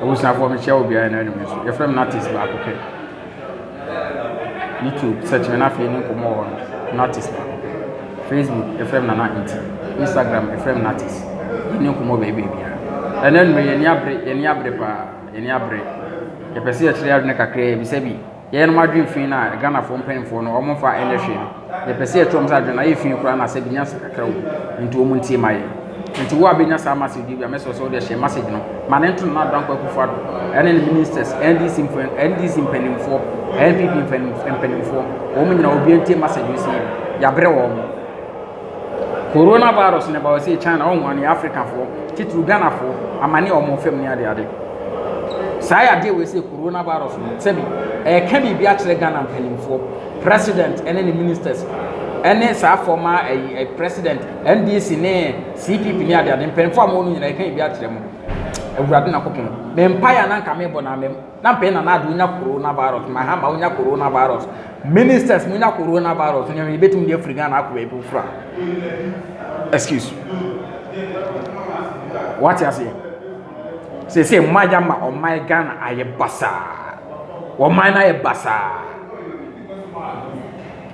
Abusuafoɔ mekyia obiara na anum nso yɛfrɛ me Natis baako pɛ YouTube search me na afei ne nkɔmmɔ wɔ no Natis baako pɛ Facebook yɛfrɛ me Nana Nti Instagram yɛfrɛ me Natis ne nkɔmmɔ baabi bia ɛnɛ nnum yɛni abere yɛni abere paa yɛni abere yɛpɛ sɛ yɛkyerɛ adwene kakra yɛbisa bi Yɛyɛnom adwen fii na Ghanafoɔ mpaninfoɔ no ɔmo nfa ɛnyɛ hwee no yɛpɛ sɛ yɛtu ɔmo sɛ adwen no ayɛ fii koraa na sɛ benya sika kakra wɔ mu nti ɔmo ntie ma yɛn nti wo a benya saa message yi bi a mɛsrɛ wo sɛ wode hyɛ message no ma ne nto Nana Dankwa Akufo Addo ɛne ne ministers NDC NDC mpaninfoɔ NPP mpaninfoɔ wɔn nyina obiara ntie message yi sɛ yɛabrɛ wɔn. Corona virus ne ba ɔsee China ɔho ane Africa foɔ titiriw Ghana foɔ amane a ɔmo fam ne ade ade. Saa yadeɛ wei sɛ Corona virus no sɛbi ɛɛka biribi akyerɛ Ghana mpaninfoɔ, president ɛne ne ministers ɛne saa fɔma ɛyi president NDC ne CPP ne ade ade mpaninfoɔ a ɔmo wɔ no nyinaa ɛɛka biribi akyerɛ mo. Awurade Nyankopɔn me mpaeɛ a na nka meebɔ na amem. na mpɛn na n'ade wonya corona virus ma ha ma wonya corona virus ministers mo nya corona virus ne yɛ bɛtumi de afiri ghana akɔ baabi foforo a excuse wate aseɛ sese mma ya ma ɔman ghana ayɛ basaa ɔman no ayɛ basaa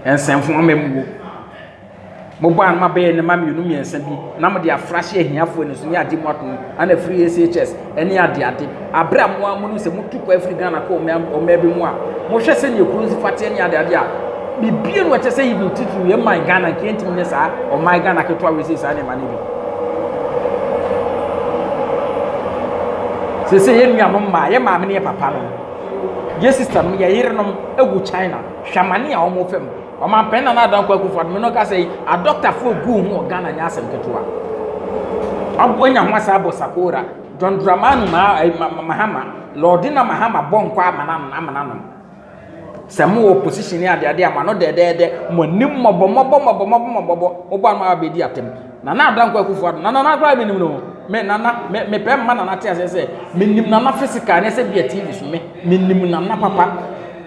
nsɛmfo ama mu wo Mobɔ ano ma bɛyɛ nneɛma mmienu mmiɛnsa bi na mode afra hyɛ ahiafoɔ ani so ne adeɛ mu ato ana afiri ACHS ne adeade. Aberɛ a mo ara monim sɛ motu kɔ afiri Ghana kɔ ɔmaa bi mu a, mohwɛ sɛdeɛ kuro nsi fa teɛ ne adeade a, biribiara no ɛkyɛ sɛ even titiri yɛn man Ghana nka yɛntumi nyɛ saa ɔman Ghana ketewa wei sɛ saa nneɛma no bi. Sɛ sɛ yɛn nuanom mmaa, yɛn maame ne yɛn papa no, yɛn sista nom, yɛn yerenom wɔ China, hwɛ amane a wɔn fam. Ɔmanpanin Nana Addo Dankwa Akufo-Addo no kasa yi, adɔktafoɔ guu ho wɔ Ghana nyɛ asɛm ketewa. Ɔnya ho asa abɔ Sakora, John Dramani eh, Mahama, Lordina Mahama bɔ nkɔ amana nom. Sɛ mo wɔ position adeade a, mo ano dɛdɛɛdɛ, mo ani mmɔbɔ mmɔbɔ mmɔbɔ mmɔbɔ mmɔbɔ, wobɔ ano a bɛdi atɛm. Nana Adda Nko Akufo Addo na Nana koraa menim no me Nana me me pɛ mma Nana te aseɛ sɛ menim Nana physical ne sɛ bia TV so me menim Nana papa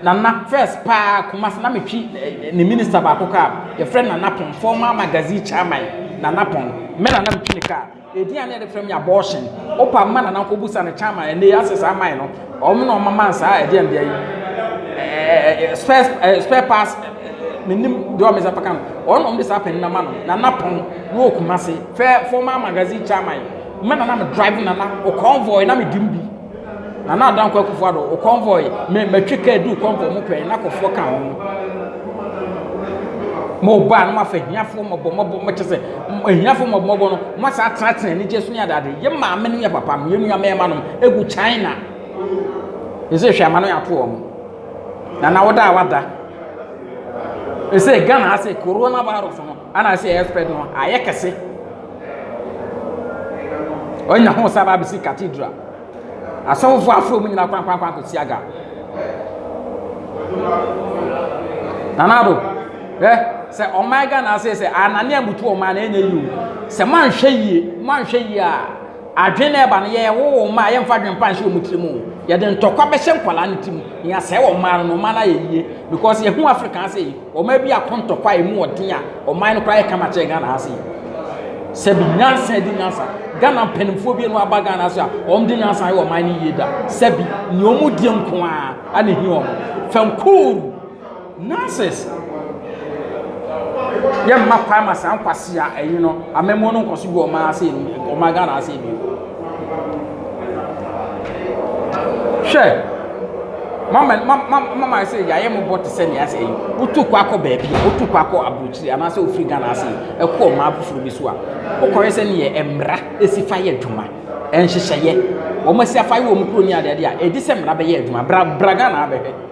Nana first paa Kumasi na metwi eh, ne minister baako kaa yɛfrɛ Nana Pon former magazine chairman Nana Pon me Nana metwi ne kaa ɛdin a ne yɛde frɛ me abortion wopa mma Nana nkɔbusa ne chairman ɛnɛ yɛ asɛ saa man no Wɔn na wɔma man saa ɛdeɛ ndeɛ yi ɛɛ spare ɛɛ spare parts menim deɛ wɔn nsa paka no wɔn na wɔn de saa panin na ma no nana pɔn na wɔ kumase fɛ former magazine chairman mɛ nana me drive nana o convoy na me dim bi nana adanko akufo ado o convoy me matwi kaa du convoy mo pɛn na kɔfoɔ ka ho mo ba no ma fa hiafo mɔbɔ mɔbɔ mo kyɛ sɛ hiafo mɔbɔ mɔbɔ no mo asa atena atena anigye so ne adade yɛ maame no yɛ papa no yɛ nua mɛɛma no egu China ese hwɛ amano ato wɔn na na wɔda a wada ese Ghana ase corona virus no ana ase ɛyɛ spread no ayɛ kɛse ɔnya ho sa ba abesi cathedral asɔfo afro mu nyina kwan kwan kwan kɔ siaga nanado ɛ sɛ ɔman Ghana ase sɛ ananea mutu ɔman na ɛnyɛ yiw sɛ manhwɛ yie manhwɛ yie a Adwene na ɛba no, yɛwoo mma a yɛmfa adwene pa nhyɛ wɔn tirim o. Yɛde ntɔkwa bɛhyɛ nkwadaa no tirim na yɛasɛe wɔn mmaa no na ɔman no ayɛ yie because yɛhu Africa ha sei, ɔman bi ako ntɔkwa a ɛmu ɔden a ɔman no koraa yɛ kama kyɛn Ghana ha sei. Sɛbi nyansa di nyansa. Ghana mpanimfoɔ bi no aba Ghana so a wɔn de nyansa ayɛ ɔman no yie da. Sɛbi nea wɔn die nko ara na ɛhi wɔn. Fɛnkuuru. Nurses yɛ mma kwan ma saa nkwasi a ɛyi no amammuo no nkɔso gu ɔman ase ɔman Ghana ase bi. Hwɛ mama mama mama sɛ yɛayɛ mo bɔ te sɛ nea sɛ yi wotu kɔ akɔ baabi a wotu kɔ akɔ aburokyiri anaasɛ ofiri Ghana ase ɛkɔ ɔman afoforɔ bi so a wokɔyɛ sɛ neɛ mmara esi fa yɛ adwuma ɛnhyehyɛeɛ wɔn asi afa yɛ wɔn kuro ni adeade a ɛdi sɛ mmara bɛyɛ adwuma bra bra Ghana abɛhwɛ.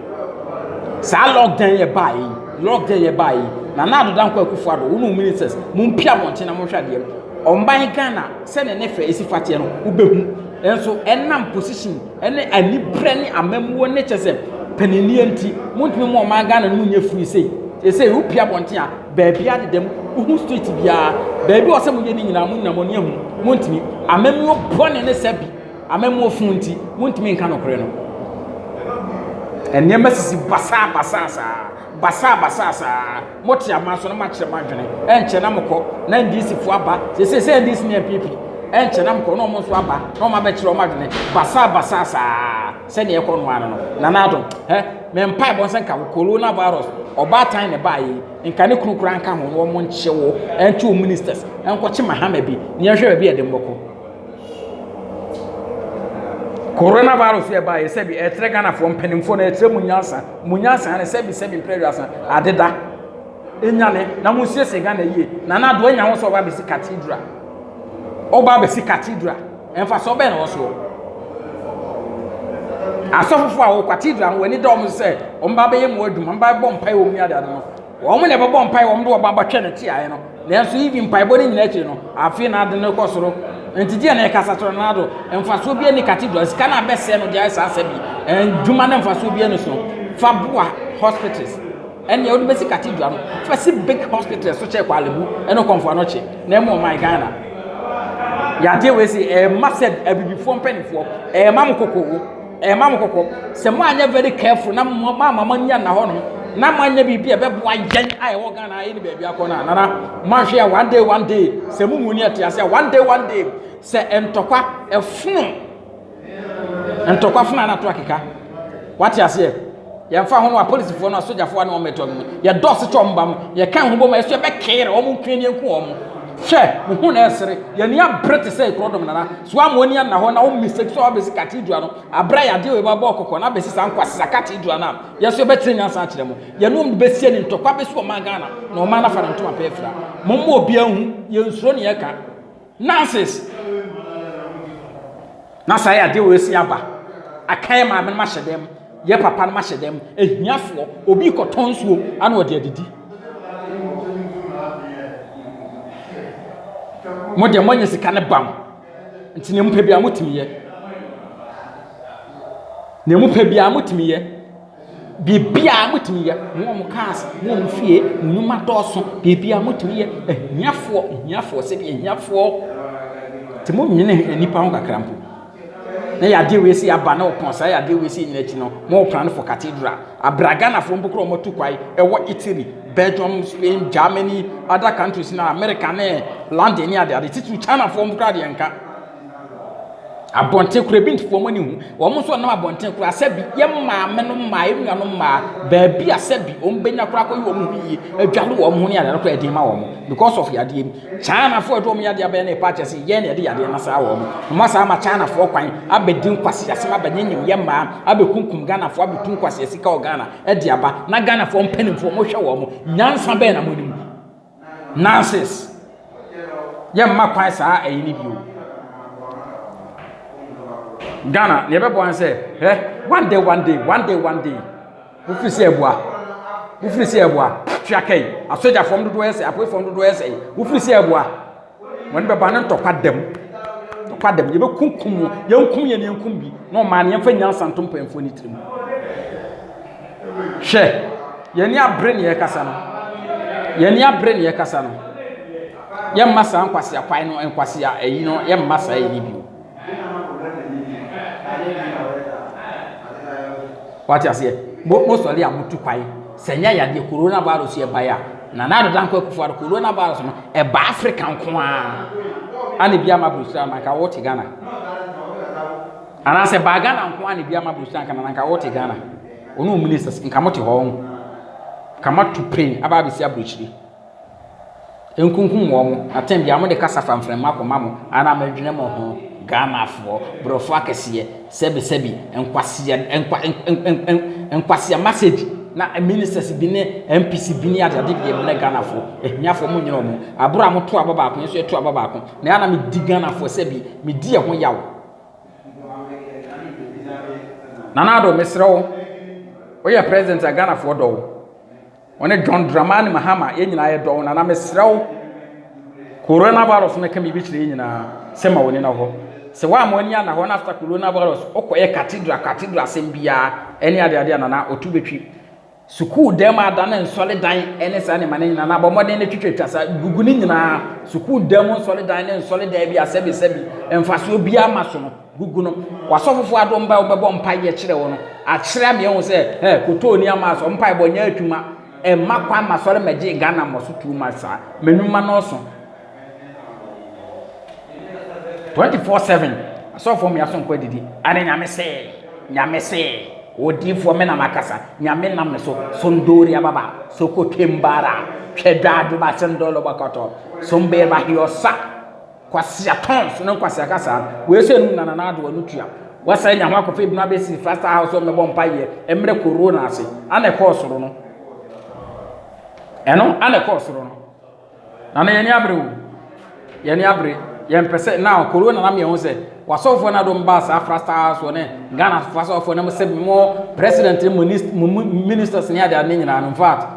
saa lockdown yɛ baa yi lockdown yɛ baa yi nana ado danko akufo ado wɔn ministers mo mpi abɔnten na mo hwɛ adeɛ ɔman ghana sɛdeɛ ne fɛ esi fateɛ no wobɛhu nso ɛnam position ɛne anibrɛ ne amamuo ne kyɛ sɛ paninnie nti mo ntumi mu ɔman ghana no mu nyɛ firi sei ɛsɛ yɛ wopi abɔnten a baabi adedam wohu street biara baabi ɔsɛ mo yɛ ne nyinaa mo nyinaa mo ne ahu mo ntumi amamuo bɔne ne sɛ bi Amammuo fo nti, wontumi nka nokorɛ no. Nneɛma sisi basaa basaa saa, basaa basaa saa. Mote ama so na moakyerɛ mo adwene. Ɛnkyɛ na mokɔ na NDC fo aba. Sese sɛ NDC ne NPP. Ɛnkyɛ na mokɔ na wɔn nso aba na wɔn abɛkyerɛ wɔn adwene. Basaa basaa saa sɛdeɛ ɛkɔ no ano no. Nana Adom, hɛ, me mpae bɔ sɛ nka wo corona virus, ɔbaatan na ɛbaa yi, nka ne kunu koraa nka ho na wɔn nkye wo, ɛnto wo ministers, ɛnkɔkye mahama bi, na yɛnhwɛ baabi a ɛde mmɔkɔ. Corona virus yɛ baayɛ sɛbi ɛkyerɛ Ghana foɔ mpaninfoɔ no ɛkyerɛ mo nyansa mo nyansa no sɛbi sɛbi mpere aduasa adeda ɛnyane na mo nsiesie Ghana yie Nana Addo anya ho sɛ ɔba abɛsi cathedral ɔba abɛsi cathedral mfasoɔ bɛn na ɛwɔ soɔ asɔfofoɔ a wɔ cathedral no wɔn ani da wɔn sɛ wɔn ba bɛyɛ mo adwuma wɔn ba bɛbɔ mpaeɛ wɔn mu ade ade no. Wɔn na ɛbɛbɔ mpae, wɔn de wɔn abɛhwɛ no tiaɛ no. Nanso even mpaebɔ no nyinaa akyiri no, afei na ade no rekɔ soro. Nti deɛ na ɛkasa kyerɛ no do, mfasoɔ biara ni cathedral, sika no abɛsɛe no deɛ ayɛ saa sɛ bi, adwuma no mfasoɔ biara ni so. Fa boa hospitals, ɛnea wode bɛsi cathedral no, fa si big hospitals so kyɛ kwalebu ɛne kɔmfoa no kye, na ɛmu ɔman Ghana. Yadeɛ wei si ɛma sɛ abibifoɔ mpanimfoɔ, ɛma mo kokoo. Ɛma mo kɔkɔ, sɛ moanyɛ very careful na moama mo ani anna hɔnom na moanyɛ biribi a ɛbɛboa yɛn a ɛwɔ Ghana ha yɛne baabi akɔ no a, nana, moanhwɛ a one day one day, sɛ mo mu ni ɛte ase a, one day one day, sɛ ntɔkwa ɛfono, ntɔkwa fono a na to akeka. Wate aseɛ? Yɛmfa ho no apolisifoɔ no asogyafoɔ a ne wɔn bɛtɔ no yɛdɔɔso kyɛ wɔn ba no yɛka ho bom a ɛso yɛbɛkere wɔn nkue ne yɛnku wɔn hwɛ wo ho na ɛsere yɛn ani abere te sɛ ekuro dɔm nana so ama ani anna hɔ na wo mmisa bi so a wabɛsi cathedral no abere yɛ adeɛ wɔ ɛbɔ abɔ kɔkɔ na abɛsi saa nkwasisa cathedral no a yɛso yɛbɛkyerɛ nyansa akyerɛ mo yɛne wɔn bɛsie ne ntɔkwa bɛsi wɔn maa Ghana na wɔn anafa ne ntoma pɛɛ fira mo mma obiara hu yɛnsuro ne yɛka Nurses, na saa yɛ adeɛ wɔ asi aba. Aka yɛ maame no ma hyɛ dɛm, yɛ papa no ma hyɛ dɛm, ahiafoɔ, obi kɔtɔ nsuo ana ɔde adidi. Mo deɛ moanya sika no bam, nti nea mopɛ biara motumi yɛ. Nea mopɛ biara motumi yɛ. Biribiara motumi yɛ, mo a mo cars, mo a mo fie, mo nnwuma dɔɔso, biribiara motumi yɛ, ahiafoɔ, ahiafoɔ, sɛbi ahiafoɔ, te mo nwene nnipa ho kakra mpo, na yadeɛ wei si aba na ɔpɔn saa yadeɛ wei si nyina akyi no, mo plan for cathedral, abra Ghanafoɔ mpo korɔ ɔmatu kwae, ɛwɔ Italy, Belgium, Spain, Germany, other countries na America ne London ne adeade, titiri Chinafoɔ mpo korɔ deɛ nka. Abɔnten koraa ebi nte wɔn ani ho. Wɔn nso wɔnam abɔnten koraa sɛ bi yɛn maame no mmaa, yɛn nuanom mmaa, baabi a sɛ bi wɔbɛnya koraa akɔyɛ wɔn ho yie, adwale wɔn ho ne adeade koraa ɛden ma wɔn because of yadeɛ bi. Chinafoɔ a ɛde wɔn yadeɛ abɛyɛ no repa akyɛ sɛ yɛn na yɛde yadeɛ no asra wɔn. Wɔasan ama Chinafoɔ kwan abɛdi nkwaseasɛm, abɛnyanyam yɛn mmaa, abɛkunkum Ghanafoɔ, abɛtu nkwaseasika wɔ Ghana de aba, na Ghanafoɔ mpanimfoɔ wɔhwɛ wɔn. Nyansa bɛn na monim? Nurses, yɛmma kwan saa ɛyi no bio. Ghana, nea ɛbɛboa no sɛ, hɛ, one day, one day, one day, one day. Wofiri sɛ ɛboa. Wofiri sɛ ɛboa. Twa kai, asogyafoɔ dodoɔ yɛ sɛ, apoefoɔ dodoɔ yɛ sɛ, wofiri sɛ ɛboa. Wɔn bɛba no ntɔkwa dam. Ntɔkwa dam. Yɛbɛkunkum wɔn. Yɛnkum yɛn yɛnkum bi. Na ɔmaa no yɛmfa nyansa nto mpanyinfoɔ no tirim. Hwɛ, yɛn ani abere ne yɛkasa no. Yɛn ani abere ne yɛkasa no. Yɛmma saa nkwasea kwan no nkwasea ayi no yɛmma saa yɛ ne bi. Wate aseɛ? Mo mo sɔre a motu kwae sɛ nyɛ yadeɛ corona virus yɛ bae a na na adedan kɔ akufo ado corona virus no ɛba Africa nko ara ana bi ama brosira na nka wɔte Ghana anaasɛ baa Ghana nko ara na bi ama brosira nka na nka wɔte Ghana ɔno ministers nka mote hɔ nka moato plane aba abɛsi aburokyire Nkunkum wɔn mo atam biara mo de kasa fanfrɛma kɔma mo ara mo dwene mo ho Ghanafoɔ brɔfo akɛseɛ sɛbi sɛbi nkwasea nkwa nkwasea nkwasea message na ministers bi ne MPs bi ne ade ade deɛ mene Ghanafoɔ ahiafoɔ mo nyina wɔn aboro a mo to aba baako yɛn nso yɛ to aba baako na yɛn na me di Ghanafoɔ sɛbi me di ɛho yaw Nana Addo me srɛ wo woyɛ president a Ghanafoɔ dɔ wo. Wɔne John Dramani Mahama yɛn nyinaa yɛdɔ wo nana mesrɛ wo Corona virus no ka biribi kyerɛ yɛn nyinaa sɛ ma w'ani na hɔ sɛ woamma w'ani anna hɔ na after Corona virus wokɔyɛ cathedral cathedral asɛm biara ɛne ade ade a nana ɔtu bɛtwi sukuu dan mu adane nsɔre dan ɛne saa nneɛma no nyinaa na abɔmmɔden no twitwatwa saa gugu no nyinaa sukuu dan mu nsɔre dan ne nsɔre dan bi asɛbi sɛbi mfasoɔ biara ma so no gugu no, w'asɔfofo adom bɛ wobɛbɔ mpae yɛ kyerɛ wo no akyerɛ me ahu sɛ ɛ kotoo ni ama asɔ mpae bɔ nyɛ atwuma ɛmma kwan ma sɔre mɛgye Ghana mmɔ so too much saa mɛnwuma nɔɔso 24/7 asɔfoɔ mmea so nkɔ adidi ane nyame se nyame se odiifoɔ me na makasa nyame nam me so sondori ababa sokoto mbara twɛdwa adwoba sendolo bakɔtɔ sombeerba hiɔsa Kwasia tons ne nkwasia kasa wei sɛ num na nana ado ano tua wasa nya ho akɔfɛ ebinu abɛsi fasta house ɔmɛ bɔ mpa yɛ ɛmrɛ koro na ase ana ɛkɔɔ soro no ɛno ana ɛkɔɔ soro no nana yɛn ni abere o yɛn ni abere yɛn pɛ sɛ na koro na nam yɛn ho sɛ wasɔfoɔ na dɔm ba saa fasta house wɔ ne ghana fasɔfoɔ na mo sɛ mo president mo ministers ne adeɛ ne nyinaa no in fact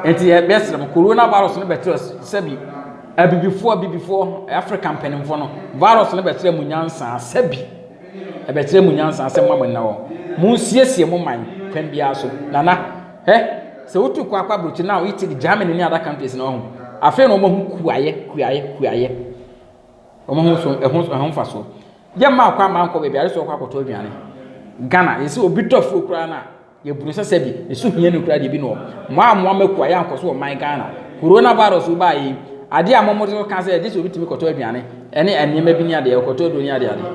Nti yɛbɛsrɛ mo, corona virus no bɛkyerɛ sɛbi abibifoɔ abibifoɔ Africa mpanimfoɔ no virus no bɛkyerɛ mo nyansa sɛbi ɛbɛkyerɛ mo nyansa sɛ mma mo nna hɔ mo nsiesie mo man kwan biara so nana hɛ sɛ wotu kɔ akɔ aburokyi now Italy Germany ne other countries na ɔho afei na wɔn ho kuayɛ kuayɛ kuayɛ wɔn ho so ɛho ɛho fa so yɛ mma akɔ ama nkɔ baabi ayɛ sɛ ɔkɔ akɔtɔ aduane Ghana yɛ sɛ obi tɔ fuo koraa na. Yɛburu sɛ sɛbi ɛso hia no kura deɛ bi na ɔ moa a moa mako ayɛ ankɔ so wɔ man Ghana Corona virus wo baa yɛi adeɛ a mo mo de ka sɛ gye sɛ obi tumi kɔtɔ aduane ɛne nneɛma bi ne adeɛ ɔkɔtɔ aduro ne adeɛ adeɛ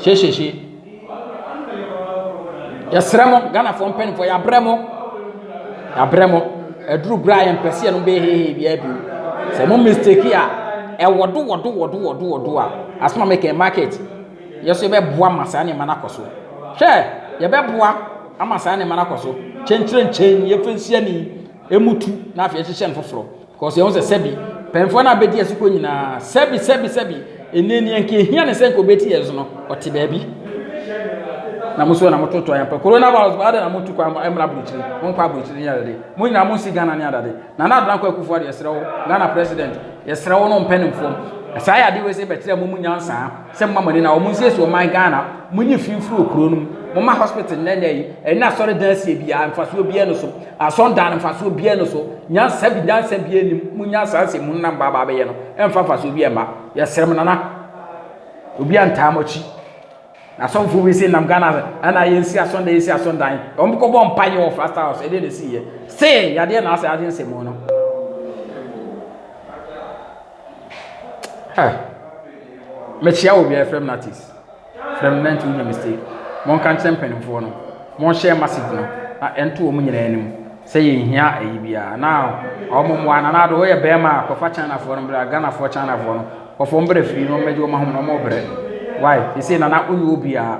hyehyehye yɛsrɛ mo Ghanafoɔ mpanimfoɔ yɛabrɛ mo yɛabrɛ mo aduru berɛ a yɛmpɛ sɛ yɛnom bɛyɛ hehe biara bio sɛ mo mistake a ɛwɔ do wɔ do wɔ do wɔ do wɔ do a asoma mekɛn market yɛn nso yɛbɛboa ma saa nneɛma no akɔ so. Hwɛ, yɛbɛboa ama saa nneɛma no akɔ so. Kyenkyerɛnkyɛn, yɛmfa nsi ani, ɛmu tu, na afei yɛhyehyɛ no foforɔ. Because yɛn sɛ sɛbi, mpanyinfoɔ no abɛdi yɛn so kɔ nyinaa, sɛbi, sɛbi, sɛbi, ɛnɛ ni ɛnka ehia ne sɛ nka obɛti yɛn so no, ɔte baabi. Na mo so na mototo ayɛ mpa. Coronavirus ba adɛ na motu kwan mmra aburokyiri. Monkɔ aburokyiri ne adade. Mo nyinaa monsi Ghana ne adade. Nana Adona Kwaku Fuade, yɛsrɛ wo, Ghana President, yɛsrɛ wo no mpɛ ne mfom. Saa yɛ adeɛ wei sɛ bɛkyerɛ mo mu nyansa. sɛ moma mɔne na wɔnsiesie ɔman Ghana, monyi fi mfiri wɔ kuro no mu, moma hospital nnɛ nnɛ yi, ɛne asɔredan asie biara mfasoɔ biara no so, asɔndan no mfasoɔ biara no so, nyansa bi nyansa biara nim, monya saa nsɛm mu nam baabaa bɛyɛ no, ɛmfa mfasoɔ biara mma, yɛsrɛ mo nana, obi antaa mo akyi, na asɔfoɔ bi sɛ nam Ghana ɛna yɛnsi asɔndan yɛnsi asɔndan, wɔn kɔbɔ mpa yɛ wɔ Flash House, ɛdeɛ na ɛsi yɛ, se yadeɛ na asɛ agye nsɛm mu no. Ɛ Mekyea wɔ obiara frɛ me Natis frɛ me Nanti wonya mistake Monka nkyerɛ mpanimfoɔ no monhyɛ message no na ɛnto wɔn nyinaa anim sɛ yɛnhia ayi biara na wɔn mmoa na naado woyɛ bɛrima a kɔfa Chinafoɔ no bra Ghanafoɔ Chinafoɔ no kɔfa wɔn bra fie na wɔmmɛgye wɔn ahome na wɔbrɛ why ɛsei nana wonni hɔ biara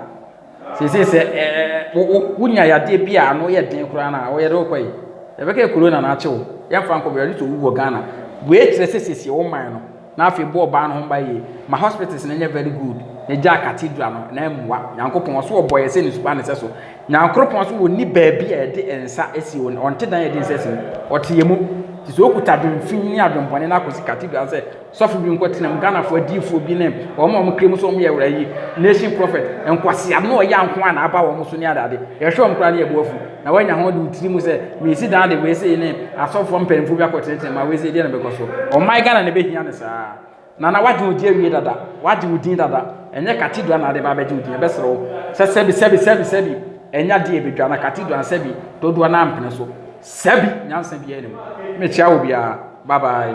Seesei sɛ ɛɛ wo wo wonya yadeɛ bi a ano yɛ den koraa no a, wo yɛde wo kɔ yi? Yɛbɛka yɛ korona na akye wo. Yɛmfa nkɔ baabi, atleast owu wɔ Ghana. Wei kyerɛ sɛ seesei wo man no, na afei bɔ ɔbaa no ho ban yie. Ma hospitals no nyɛ very good, na egyaa cathedral no, na mmoa. Nyankopɔn, ɔso ɔbɔ yɛ sɛ ne su pa ne sɛso. Nyankoropɔn nso ɔnni baabi a yɛde nsa si o, ɔnte dan a yɛde nsa si mu. Ɔte yɛ mu. Nti sɛ okuta adwen fi ne adwen bɔne no akɔsi cathedral sɛ, Sɔfo bi nkɔ tenam Ghanafoɔ adiyifoɔ bi ne wɔn a wɔkra mu sɛ wɔyɛ wura yi nation prophet nkwaseam na ɔyɛ nko a na aba wɔn so ne adeade yɛhwɛ wɔn koraa ne yɛbo afu na wanya ho de wo tiri mu sɛ mesi dan de wei sei ne asɔfoɔ mpanyinfoɔ bi akɔtenetene ma wei sei deɛ na bɛkɔ so ɔman Ghana na ɛbɛhia ne saa na na wagye wo di awie dada wagye wo din dada ɛnyɛ cathedral na ade ba abɛgye wo din ɛbɛsrɛ wo sɛ sɛbi sɛbi sɛbi sɛbi ɛnya deɛ ɛbɛdwa na cathedral sɛbi dodoɔ no ampene so sɛbi nyansa biara nim mekyia wo biara bye bye